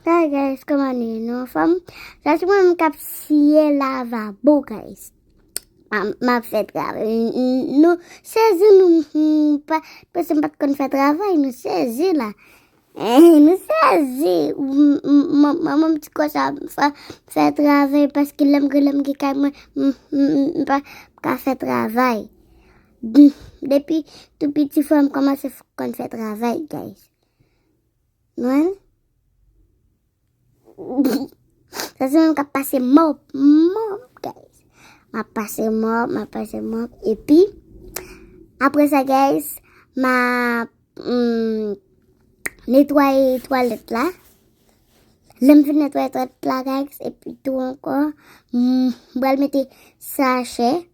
Hi guys kòman nou ye nou anfòm sa se mwen menm kap siye lavabo guys map fè travay nou sezi nou mpa panse mpat konn fè travay nou sezi la nou sezi manmanm ti kosa mpa fè travay paske lèm gen lèm gen kay mwen mpa ka fè travay depi tou piti fòm kòmanse konn fè travay guys. Mwen. Sa se mwen kap pase mop. Mop guys. Ma pase mop, ma pase mop. E pi. Apre sa guys. Ma. Hmm. Netwaye twalet la. Lèm fin netwaye twalet la guys. E pi tou anko. Mwen. Bwèl meti. Sa chè. Mwen.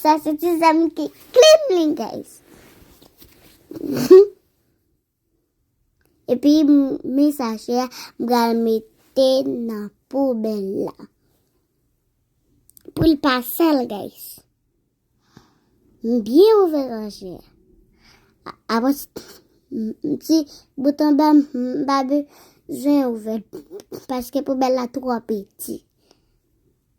Sa se ti zam ki klim li guys. Epi mi sachè a m pral mete nan poubèl la. Pou l pa sal guys. M byen ouvè ranje. Avan m ti bouton ba m pa bezwen ouvè paske poubèl la twò piti.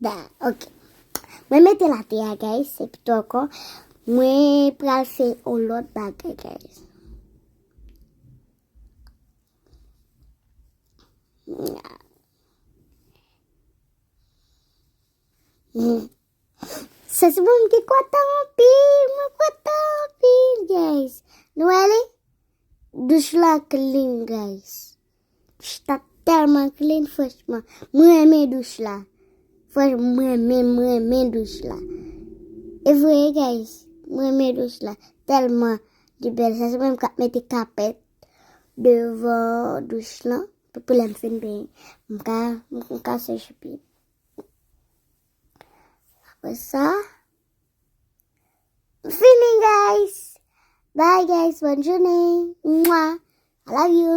Da, ok. Mwen mete la te a, guys. Se pito anko. Mwen pral fe o lot bagay, guys. Se si mwen mke kwa tan pi, mwen kwa tan pi, guys. Nou ale? Douche la clean, guys. Douch la telman clean franchman. M renmen douch la. Franchman m renmen m renmen douch la. E vre guys. M renmen douch la telman li bel. Sa se mwen menm kap mete kapet devan douch lan pou lèm fin benyen. M ka m ka seche pye m. Apre sa m fini guys. Bye guys bonne journée. Mwah. I love you.